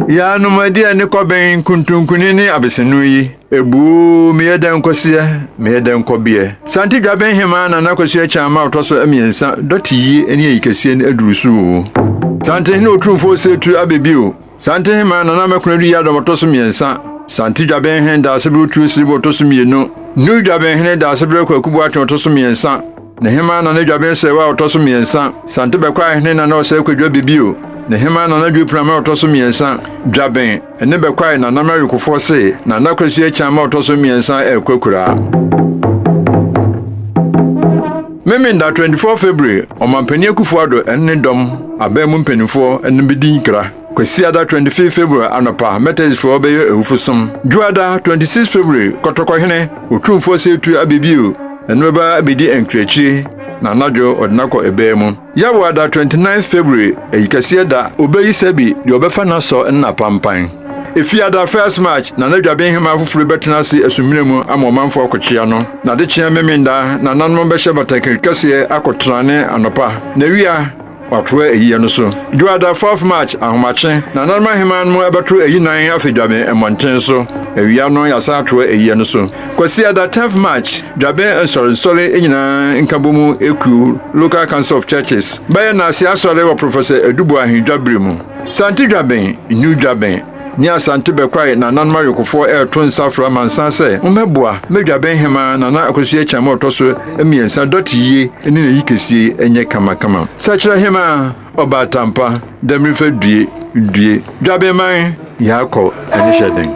Yaanom adi ɛne kɔbɛn nkuntunkuni ne abesenu yi. Ebuu meyɛ dɛ nkɔseɛ, meyɛ dɛ nkɔbeɛ. Sante dwaben hemaa Nana Kwasi Akyaan ma ɔtɔ so mmiɛnsa dɔte yie ɛne ayikasie no aduru so o. Sante hene otumfoɔ osetu abɛ bio. Sante hemaa Nana Mɛkona Adu Yiadɔm ɔtɔ so mmiɛnsa. Sante dwaben hene Daasebrɛ Otuo Siribo ɔtɔ so mmienu. New dwaben hene Daasebrɛ Kwaku Boakye ɔtɔ so mmiɛnsa. Ne hema na ne dwaben sɛewa a ɔtɔ so mmiɛnsa. Sante bɛkɔ a hene na na ɔsɛe kwadwa bibio. Ne hema na na dwepram a ɔtɔ so mmiɛnsa. Dwaben, ɛne bɛkɔ a na nam awekofoɔ se, na na kwasua akyan ma ɔtɔ so mmiɛnsa ɛrekɔ akuraa. Memenda 24 February, Ɔmanpanin Akufo-Addo ne ne dɔm, aban mu mpanimfoɔ, no bedi nkra. Kwasiada 25 February anɔpa, Methodistfoɔ bɛyɛ awufo som. Dwoada 26 February, Kɔtɔkɔhene Otumfoɔ Seetu abɛbio na ne bɛba abɛdi ankyirakyire na anadwo ɔde no akɔ ɛbaa mu. Yawoada 29 February, Ayikɛseɛ da, ɔbɛyi Sɛbi deɛ ɔbɛfa no asɔ ne n'apampan. Efiada 1st March, Nana Dwabenhema foforo bɛtena ase asumina mu ama ɔmanfoɔ akɔkyea no. Nadekyeɛ Memenda, Nananom bɛhyɛ batakari kɛseɛ akɔtra ne anɔpa. Nawia, Wɔatoa eyi yɛ no so. Dwoada, Fourth March, Ahomakye, Nananom Aheman mu ɛbɛto ayi nan afi Dwaben mmɔnten so. Awia no, yɛasan atoa eyi yɛ no so. Kwasiada, Tenth March, Dwaben Nsɔre, Nsɔre nyinaa nkabomu ekuo, Local Council of Churches, bɛyɛ Naase Asɔre wɔ Professor Adu Boahen Dwabere mu. Sante Dwaben, New Dwaben, Nye Asante bɛkwae na nanom awekofoɔ reto nsa afrɛ amansan sɛ wɔmmɛboa mma dwabɛn hemaa Nana Akosua Akyem a ɔtɔ so mmiɛnsa dɔte yie ne n'ayi kɛsie nyɛ kamakama. Sakyera hemaa Ɔbaa Tampa Damirifa due due dwabɛnman yɛakɔ ɛne hyɛ den.